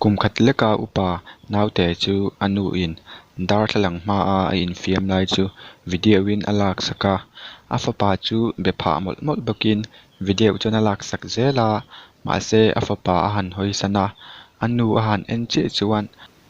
Kum khat leka upa naute chu a nu in darthlalang hma a a infiam lai chu video in a laksak a, a fapa chu be phah mawlh mawlh bawk in video chuan a laksak zel a, mahse a fapa a han hawisan a, a nu a han en chiah chuan.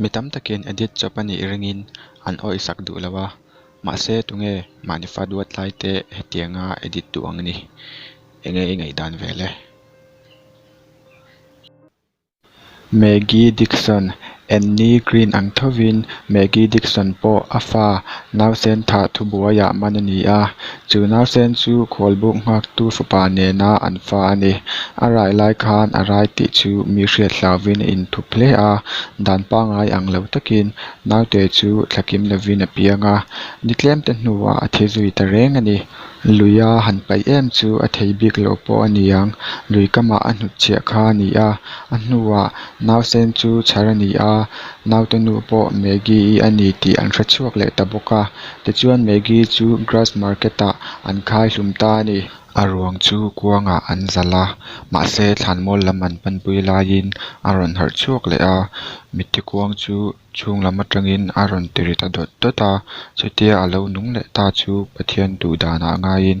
Mi tam takin edit chawp a nih ringin an awih sak duh lo a, mahse tunge mahni faduat tlaite hetianga edit duh ang ni? Enge i ngaih dan ve le? Maggie Dickson, Anne Green ang thovin Maggie Dickson pawh a fa Nausentha thubuaiah man a ni a. Chu nawsen chu khawlbuk nghaktu fapa nena an fa a ni. A rai lai khan a rai tih chu mi hriathlauin a in thup hle a. Dan pangai ang lo takin naute chu thlakim lovin a piang a. Ni tlemte hnuah a thi zui ta reng a ni. Luia han paih em chu a thei bik lo pawh a ni ang. Lui kamah a hnut chhiah kha a ni a. A hnuah nausen chu chhar a ni a, nautenu pawh Maggie i a ni tih an hre chhuak leh ta bawk a. Ti chuan Maggie chu grass market ah an khai hlum ta a ni. A ruang chu kuangah an zal a, mahse thlanmual lam an panpui laiin a rawn harh chhuak leh a. Mite kuang chu chhung lam atangin a rawn ti ri ta dawt dawt a, chutia a lo nung leh ta chu Pathian duh danah ngaiin.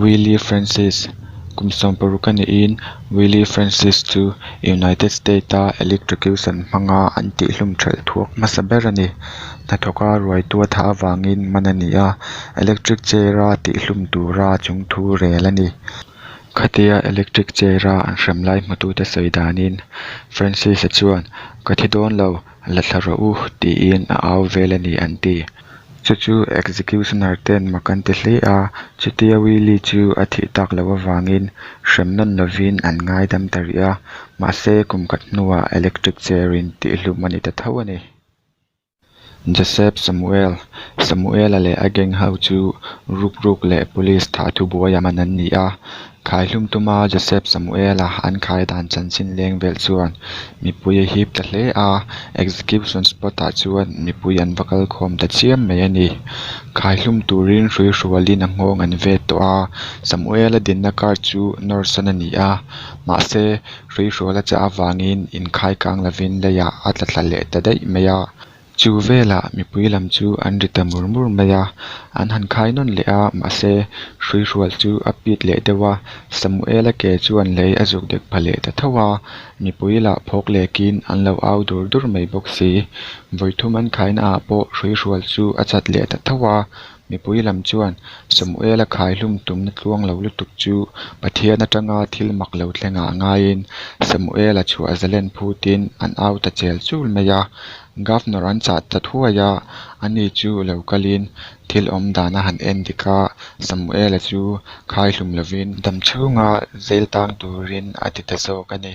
Wylie Francis, Kum sawm paruk a niin Wylie Francis chu United State-a electrocution hmanga an tihhlum ṭhelh thuak hmasa ber a ni. Hnathawka ruaitu a thah avangin man a ni a, electric chair-a tihhlum tura chung thu rel a ni. Khatia electric chair-a an hrem lai hmutute sawi danin Francis-a chuan, Ka thi dawn lo. la thla rawh u tiin a au vel a ni an ti. Chu chu executioner ten mak an ti hle a, chutia Willy chu a thih tak loh avangin hrem nawn lovin an ngaidam ta rih a, mahse kum khat hnuah electric chair in tih hlum a ni ta tho a ni. Joseph Samuel, Samuela leh a gang ho chu Rukruk leh police thah thubuai ah man an ni a, Khai hlum tuma Joseph Samuel a an khai dan chanchin leng vel chuan mipui a hip ta hle a, execution spot ah chuan mipui an va kal khawm ta chiam mai a ni. Khai hlum turin hrui hrualin a nghawng an ve tawh a, Samuel a dinna kar chu Norson a ni a, mahse hrui hruala chah avangin inkhai kang lovin leiah a tla thla leh ta daih mai a, Chu velah mipui lam chu an ri ta mur mur mai a, an han khai nawn leh a, mahse hrui hrual chu a pit leh deuh a, Samuela ke chuan lei a zuk dek pha leh ta tho a, mipui lah phawk lekin an lo au dur dur mai bawk si. Vawithum an khaina ah pawh hrui hrual chu a chat leh ta tho a, mipui lam chuan Samuela khaihlum tumna tluang lo lutuk chu Pathian atanga thil mak lo thlengah ngaiin Samuela chhuah zalen phutin an au ta chel chul mai a. Governor an chah ta thuai a, ani chu lo kalin thil awm dan a han en dik a, Samuela chu khaihlum lovin. Damchhunga zêl tâng tûrin a ti ta zâwk a ni.